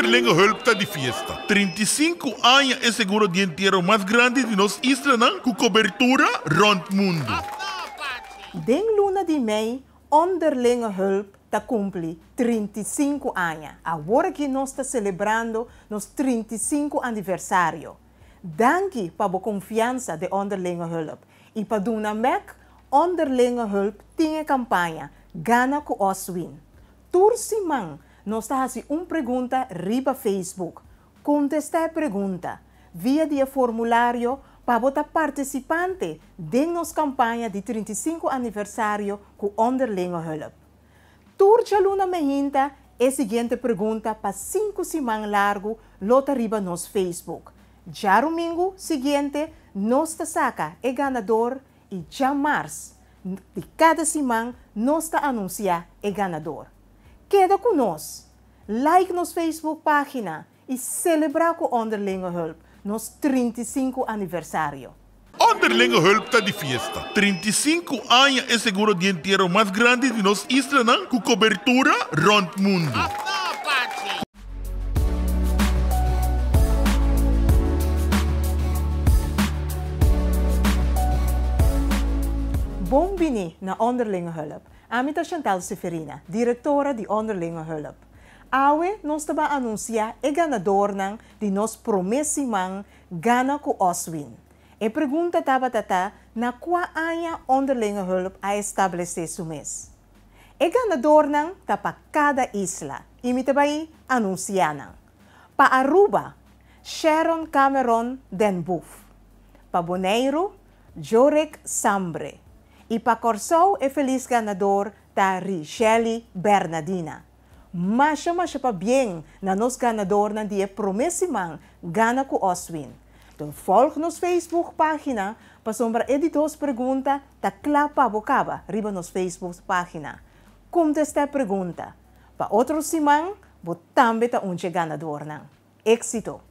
Onderlinge hulp ta di fiesta. Trinta i sinku aña e seguro di entiero mas grandi di nos islanan ku kobertura rònt mundu. Den luna di mei Onderlinge hulp ta kumpli trinta i sinku aña. Awor aki nos ta selebrando nos trinta i sinku aniversario. Danki pa bo konfiansa den Onderlinge hulp. I pa duna mek, Onderlinge hulp tin e kampaña Gana ku Oswin. Tur siman nos ta hasi un pregunta riba Facebook. Kontestá e pregunta via di e formulario pa bo ta partisipante den nos kampaña di trinta i sinku aniversario ku Onderlingenhulp. Tur djaluna mei hinta e siguiente pregunta pa sinku siman largu lo ta riba nos Facebook. Djarumingu siguiente nos ta saka e ganador y dja mars di cada siman nos ta anuncia e ganador. Keda cu nos! Like nos Facebook pagina y celebra cu Onderlingehulp nos trinta i sinku aniversario! Onderlingehulp ta di fiesta. Trinta i sinku aña e seguro di entiero mas grandi di nos islanan cu cobertura rond mundu. Bon bini na Onderlinge Hulp. Ami ta Chantal Seferina, Direktora di Onderlinge Hulp. Awe nos ta ban anunsiá e ganadornan di nos promé siman Gana ku Oswin. E pregunta tabata ta, Na kua aña Onderlinge Hulp a establesé su mes? E ganadornan ta pa kada isla i mi ta bai anunsiá nan. Pa Aruba, Sharon Cameron den Boef. Pa Boneiru, Jorek Sambre. I pa Kòrsou e felis ganador ta Richely Bernadina. Masha masha pa bien na nos ganadornan di e prome siman Gana ku Oswin. Don volg nos Facebook pagina pasobra e di dos pregunta ta kla pa bo kaba riba nos Facebook pagina. Kontesta e pregunta pa otro siman bo tambe ta un dje ganadornan. Exito!